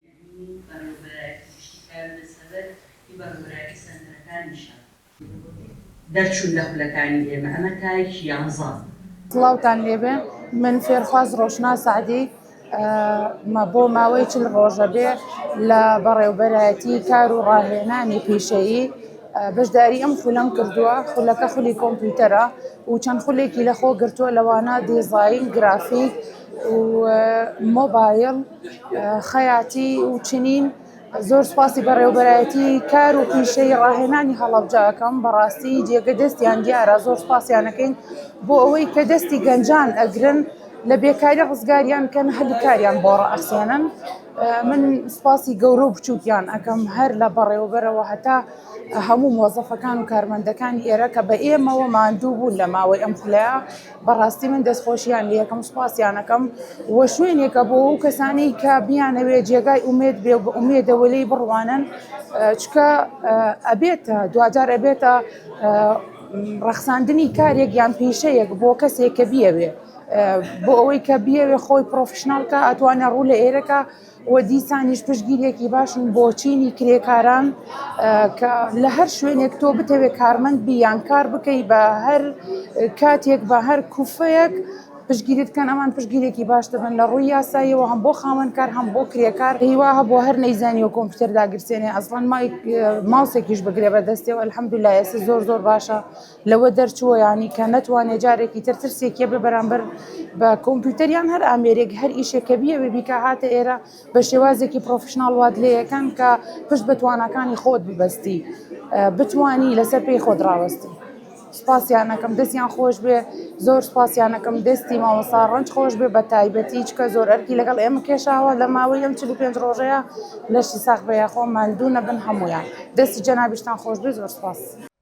دوو بەڕێوەبەرای پزیشکی کار لە سەبەر ی بەڕێوەبەرایەتی سەنتەرەکانیشە. دەرچوون لە خولەکانی ئێمە ئەمە تایەکی یانزە. سڵاوتان لێبێ من فێرخواز ڕۆشنا سەعدی مە بۆ ماوەی چل ڕۆژە بێ لە بەڕێوبەرایەتی کار و ڕاهێنانی پیشەیی بەشداری ئەم خولەم کردووە خولەکە خولی کۆمپیوتەرە و چەند خولێکی لەخۆ گرتووە لەوانە دیزاین گرافیک و مۆبایل خەیاتی و چنین زۆر سپاسی بەڕێوبەرایەتی کار و پیشەی ڕاهێنانی هەڵەبجەکەم بەڕاستی جێگە دەستیان دیارە زۆر سپاسیانەکەین بۆ ئەوەی کە دەستی گەنجان ئەگرن لە بێکاری ڕزگاریان کەن هەلی کاریان بۆ ڕئەسێنن من سپاسی گەورە و بچووکیان ئەکەم هەر لە بەڕێوبەرەوە هەتا هەموو مۆزەفەکان و کارمەندەکانی ئێرە کە بە ئێمەوە ماندوو بوون لە ماوەی ئەم خولەیە. بەڕاستی من دەستخۆشیان لێکم سوپاسیانەکەم و شوێنێکە بۆ ئەو کەسانی کە بیانەوێت جێگای ئومێد بێ بە ئومێدەوە لی بڕوانن چکە ئەبێتە دوجار ئەبێتە ڕەخساندنی کارێک یان پیشەیەک بۆ کەسێک کە بیەوێ بۆ ئەوەی کە بیەوێ خۆی پرۆفشنناڵکە ئەتوانە ڕوو لە ئێرەکە و دیسانیش پشتگیریەکی باشن بۆ چینی کرێکاران کە لە هەر شوێنێک تۆ بتەوێت کارمەند بی یان کار بکەی بە هەر کاتێک بە هەر کوفەیەک پشگیریت کەن ئەمان پشگیرێکی باش دەبن لە ڕووی یاساییەوە هەم بۆ خاوەنکار هەم بۆ کرێکار هیوا هەبوو هەر نەیزانی و کۆمپیوتەر داگرسێنێ ئەسڵەن مای ماوسێکیش بگرێ بە دەستێەوە الحمدلله ئێستا زۆر زۆر باشە لەوە دەرچووە یانی کە نەتوانێ جارێکی تر ترسێکیە بە بەرامبەر بە کۆمپیوتەریان هەر ئامێرێک هەر ئیشێک کە بیەوێ بیکە هاتە ئێرە بە شێوازێکی پرۆفشنناڵ وات لەکەن کە پشت بە توانەکانی خۆت ببەستی بتانی لەسەر پێی خۆت ڕاوەستی. سپاسیانەکەم دەستیان خۆش بێ زۆر سپاسیانەکەم دەستی مامەسا ڕنج خۆش بێ بە تایبەتی چکە زۆر ئەرکی لەگەڵ ئێمە کێشاوە لە ماوەی ئەم چ پێنج ڕۆژەیە لەشی ساخ بەیەخۆ ماندوو نەبن هەمویان دەستی جەنابیشتان خۆش بێ زۆر سپاس.